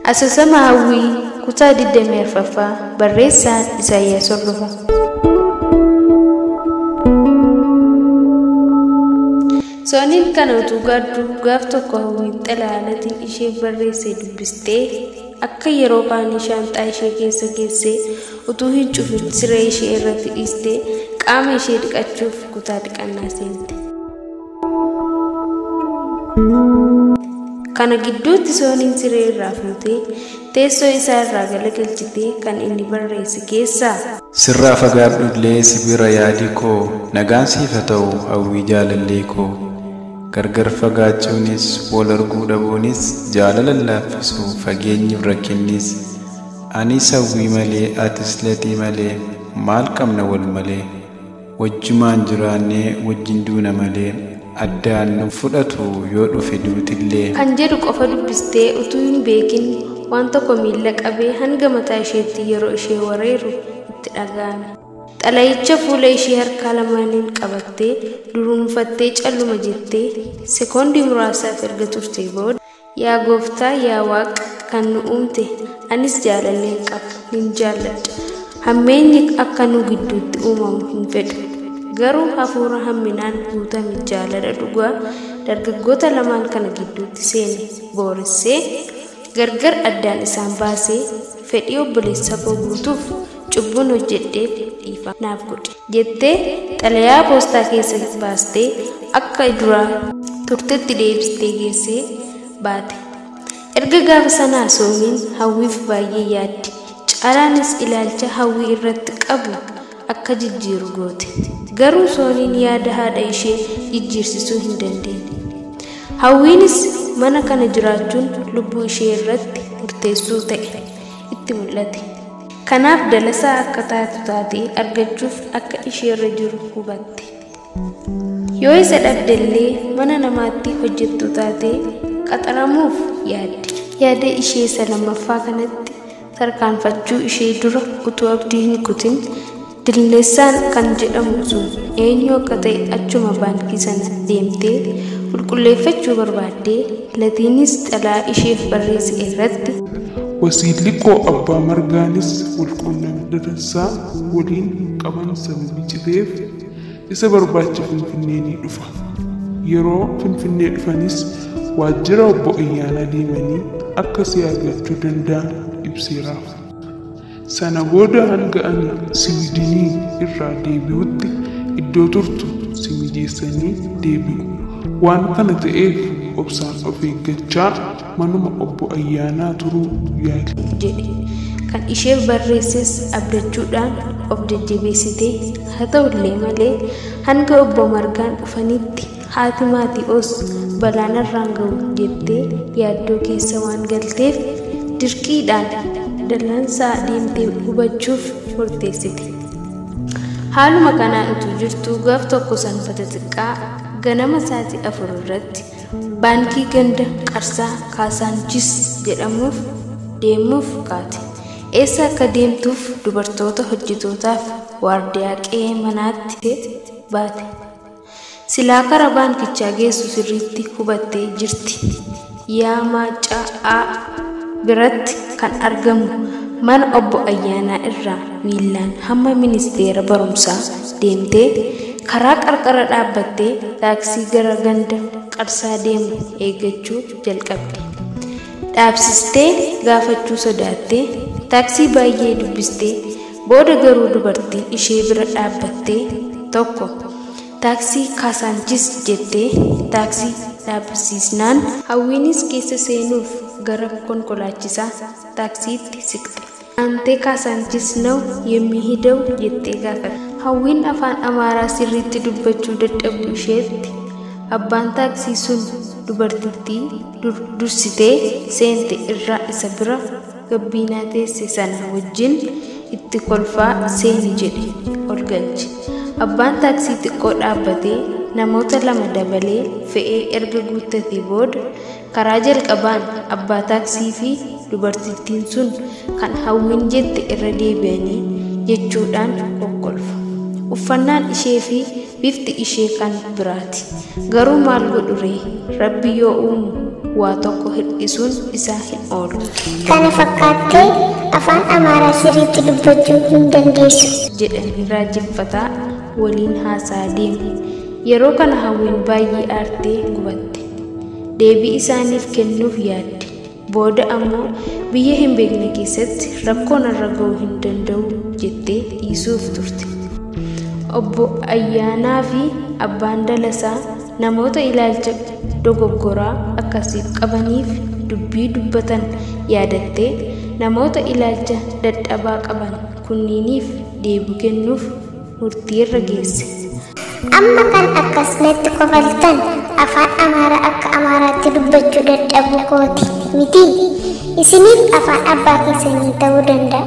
Asoosama Hawwii kutaa 24ffaa barreessaan Isaayyaas Hordofa. Sooniin kana utuu gaaddu gaaf tokko Hawwiin xalayaalatii isheef barreesse dubbistee akka yeroo kaanii shaanxaa ishee keessa geessee utuu hin cufin siree ishee irratti dhiistee qaama ishee dhiqachuuf kutaa dhiqannaa seente. Kana gidduutti Sooniin siree irraa fuutee teessoo isaa irraa galagalchitee kan inni barreesse keessaa Sirraa fagaadhu illee si bira yaadi koo nagaan siif haa ta'u hawwii jaalallee koo gargar fagaachuunis wal arguu dhabuunis jaalala laaffisu fageenyi rakkinnis anis hawwii malee atis latii malee maal qabna wal malee. Wajjumaan jiraannee wajjin duuna malee. Addaan nu fudhatu yoo dhufe duutillee. Kan jedhu qofa dubbistee utuu hin beekin waan tokko miila qabee hanga mataa isheetti yeroo ishee wareeru itti dhaga'ame. Xalayicha fuula ishee harkaa lamaaniin qabattee, duruunfattee calluma jettee, sekoondii muraasaaf erga turtee booda. Yaa gooftaa yaa waaq kan nu uumte anis jaalalleen qabu nin jaalladha hammeenyi akka nu gidduutti uumamu hin fedhu garuu hafuura hamminaan guutame jaalala dhugaa dargaggoota lamaan kana gidduutti seene booressee gargar addaan isaan baasee fedhii obboleessa koo guutuuf cubbuun hojjedheef dhiifama naaf godhe. jettee xalayaa poostaa keessa baastee akka duraa turtetti deebistee geessee baate. Erga gaafa sanaa Soomiin Hawwiif baay'ee yaaddi. Caalaanis ilaalcha Hawwii irratti qabu akka jijjiiru goote. Garuu Soomiin yaada haadha ishee jijjiirsisuu hin dandeenye. Hawwiinis mana kana jiraachuun lubbuu ishee irratti murteessuu ta'e itti mul'ate. Kanaaf dalasaa akka taatu taate argachuuf akka isheerra jiru hubatte. Yoo isa dhabdellee mana namaatti hojjettuu taate qaxaramuuf yaadde. Yaada ishee isa lammaffaa kanatti tarkaanfachuu ishee dura utuu abdii hin kutin Dillessaan kan jedhamu sun eenyu akka ta'e achuma baankii sana deemtee qulqulleeffachuu barbaadde Latiinis xalaa isheef barreesse irratti. Wasiilli koo Abbaa Margaanis walquunnamti Datassaa waliin hin qaban sababii citeef isa barbaacha Finfinnee ni dhufa. Yeroo Finfinnee dhufanis waajjira obbo Ayyaanaa deemanii akka si argachuu danda'an ibseeraaf. Sana booda hanga ani Siwidinii irraa deebi'utti iddoo turtu si mijeessanii deebi'u. Waan kana ta'eef obsaan of eeggachaa manuma Obbo Ayyaanaa turuu yaali. jedhe. Kan isheef barreesses abdachuudhaan of jajjabeessite. Haa ta'ullee malee hanga Obbo Margaan dhufanitti Haati Maati'oos balaa narraan ga'u jettee yaaddoo keessa waan galteef dirqiidhaan dallansaa deemtee hubachuuf murteessite. Haaluma kanaan utuu jirtuu gaaf tokko sanbata xiqqaa ganama sa'aatii afur irratti baankii ganda Qarsaa Kaasaanchis jedhamuuf deemuuf kaate. Eessa akka deemtuuf dubartoota hojjetootaaf waardiyaa qe'ee manaatti baate. Silaa karaa baankichaa geessu sirriitti hubattee jirti. Yaa Maaccaa A biratti kan argamu mana obbo Ayyaanaa irraa miillaan hamma ministeera barumsaa deemtee karaa qarqara dhaabbattee taaksii gara ganda qarsaa deemu eeggachuu jalqabde. Dhaabsistee gaafachuu sodaattee taaksii baay'ee dubbistee Booda garuu dubartii ishee bira dhaabbattee tokko taaksii Kaasaanchis jettee taaksii dhaabsiisnaan Hawwiinis keessa seenuuf gara konkolaachisaa taaksiitti siqxe. Aantee Kaasaanchis naw yemmihidew jettee gaafatte. Hawwiin afaan Amaaraa sirriitti dubbachuu dadhabuu isheetti abbaan taaksii sun dubartittii dursitee seente irraa isa bira gabbiinaa teesse sana wajjin itti kolfaa seeni jedhe ol galche. Abbaan taaksii xiqqoo dhaabbatee namoota lama dabalee fe'ee erga guuttatee booda karaa jalqabaan abbaa taaksii fi dubartittiin sun kan hawwiin jette irra deebi'anii jechuudhaan kokkolfa. Uffannaan ishee fi Bifti ishee kan biraati. Garuu maal godhu ree? Rabbi yoo uumu waa tokko hir'isuun isaa hin oolu. Kana fakkaattee afaan Amaaraa sirriitti dubbachuu hin dandeessu. jedhanii raajeffataa waliin haasa'aa deemu. Yeroo kana Hawwiin baay'ee aartee gubatte. Deebii isaaniif kennuuf yaadde. Booda ammoo biyya hin beekne keessatti rakkoo narra ga'uu hin danda'u jettee dhiisuuf turte. Obbo Ayyaanaa fi Abbaan Dalasaa namoota ilaalcha dogoggoraa akkasiif qabaniif dubbii dubbatan yaadattee namoota ilaalcha dadhabaa qaban kunniiniif deebii kennuuf murtii irra geesse. Amma kan akkas natti kofaltan afaan Amaaraa akka Amaaraatti dubbachuu dadhabuu kooti miti. Isiniif afaan abbaa keessanii ta'uu danda'a.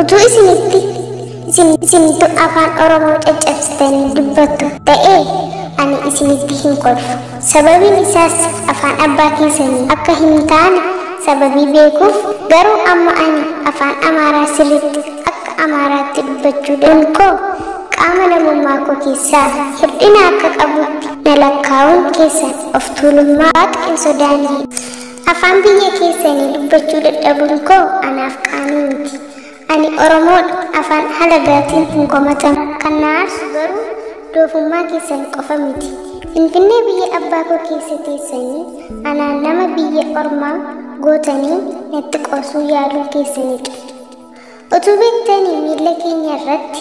Utuu isinitti isin isintu afaan Oromoo caccabsitanii dubbattu ta'ee ani isinitti hin kolfu. Sababiin isaas afaan abbaa keessanii akka hin taane sababii beekuuf garuu amma ani afaan Amaaraa sirriitti akka Amaaraatti dubbachuu dhaan koo qaama namummaa koo keessaa hirdhina akka qabuutti na lakkaa'uun keessan of tuulummaa Waaqa hin sodaanne. Afaan biyya keessanii dubbachuu dadhabuun koo anaaf qaanii miti. Ani Oromoodha afaan halagaatiin hin komatamu. Kan na aarsu garuu doofummaa keessan qofa miti. Finfinnee biyya abbaa koo keessa teessanii anaan nama biyya ormaa gootanii natti qoosuu yaaluu keessaniidha. Utuu beektanii miilla keenya irratti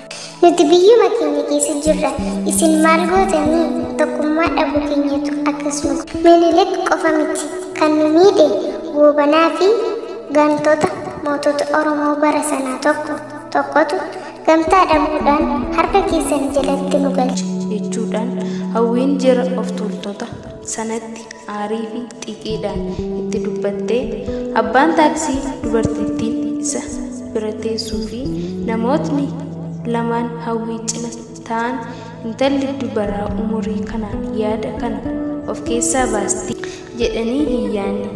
Nuti biyyuma keenya keessa jirra. Isin maal gootanii? Tokkummaa dhabuu keenyatu akkas nu godhe. Minilik qofa miti kan nu miidhe Goobanaa fi gantoota mootota Oromoo bara sanaa tokko tokkotu gamtaa dhabuudhaan harka keessan jalatti nu galche. jechuudhaan hawwiin jira of tuultota. sanatti aariifi xiiqiidhaan itti dubbattee abbaan taaksii dubartittiin isa bira teessuu fi namootni lamaan hawwii cina ta'an intalli dubaraa umurii kanaan yaada kana of keessaa baasti jedhanii hin yaanne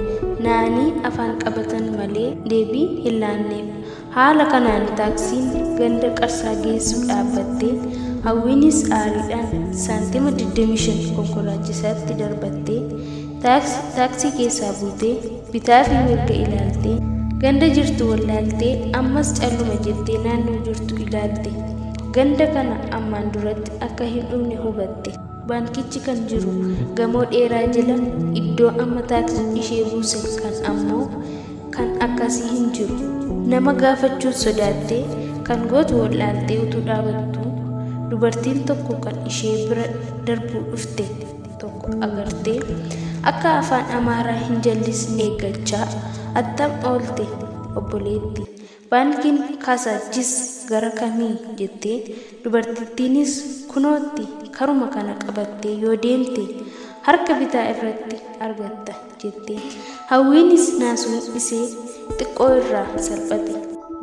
naanii afaan qabatan malee deebii hin laanneef Haala kanaan taaksiin ganda Qarsaa geessu dhaabbattee Hawwiinis aariidhaan saantima 25 konkolaachisaatti darbattee taaksi taaksii keessaa buutee bitaa fi mirga ilaaltee ganda jirtu wallaaltee ammas calluma jettee naannoo jirtu ilaalte ganda kana ammaan duratti akka hin dhumne hubatte. Baankichi kan jiru gamoo dheeraa jala iddoo amma taaksii ishee buuse kan ammoo kan akkasii hin jiru nama gaafachuun sodaattee kan gootu wal'aaltee utuu dhaabattu dubartiin tokko kan ishee bira darbuu dhufte tokko agartee akka afaan amaaraa hin jallisne eeggachaa attam oolte obboleetti Baankiin Kaasaachis gara kami? jette. Dubartittiinis kunootti karuma kana qabattee yoo deemte harka bitaa irratti argatta jette. Hawwiinis naasuun isee xiqqoo irraa salphate.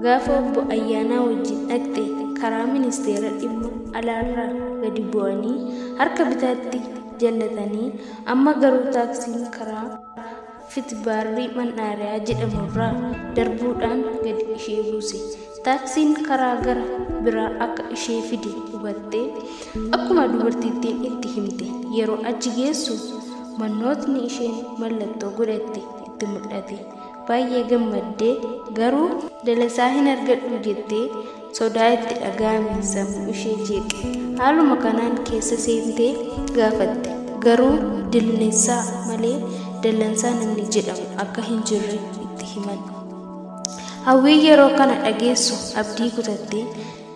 Gaafa obbo Ayyaanaa wajjin dhaqxe karaa ministeera dhimma alaarraa gadi bu'anii harka bitaatti jallatanii amma garuu taaksiin karaa Fitbaarrii Man'aariyaa jedhamu irraa darbuudhaan gadi ishee buuse. Taaksiin karaa gara biraa akka ishee fide hubattee akkuma dubartittiin itti himte yeroo achi geessu mannootni isheen mallattoo godhatte itti mul'ate. Baay'ee gammaddee garuu dalasaa hin argadhu jettee sodaa itti dhaga'ame sammuu ishee jeeqe haaluma kanaan keessa seentee gaafatte garuu dilneessaa malee dallansaa namni jedhamu akka hin jirre itti himan hawwii yeroo kana dhageessu abdii kutattee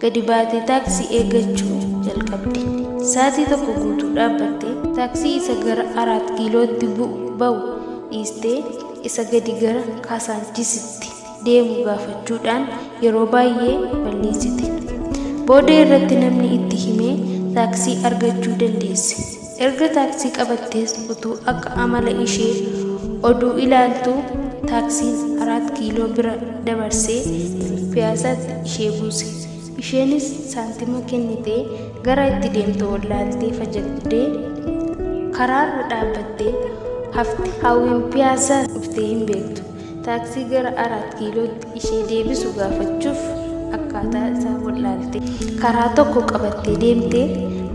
gadi baatee taaksii eeggachuu jalqabde saatii tokko guutuu dhaabbattee taaksii isa gara araat kiilootti bu'u ba'u dhiistee isa gadi gara kaasaanchisitti deemu gaafachuudhaan yeroo baay'ee balleessite. Booda irratti namni itti himee taaksii argachuu dandeesse. Erga taaksii qabattees utuu akka amala ishee oduu ilaaltuu taaksiin araat kiiloo bira dabarsee piyaasaatti ishee buuse. Isheenis saantima kennitee gara itti deemtu wallaaltee fajagdee karaarra dhaabbattee hafte. Hawwiin piyaasaa dhuftee hin beektu. taaksii gara Araat Kiilootti ishee deebisu gaafachuuf akkaataa isaa wal'aalte. Karaa tokko qabattee deemte,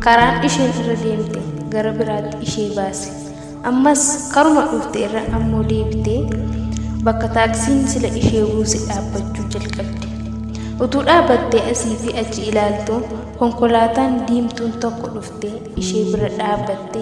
karaan isheen irra deemte gara biraatti ishee baase. Ammas karuma dhufte irra ammoo deebitee bakka taaksiin sila ishee buuse dhaabbachuu jalqabde. Utuu dhaabattee asii fi achi ilaaltu konkolaataan diimtuun tokko dhufte ishee bira dhaabbatte.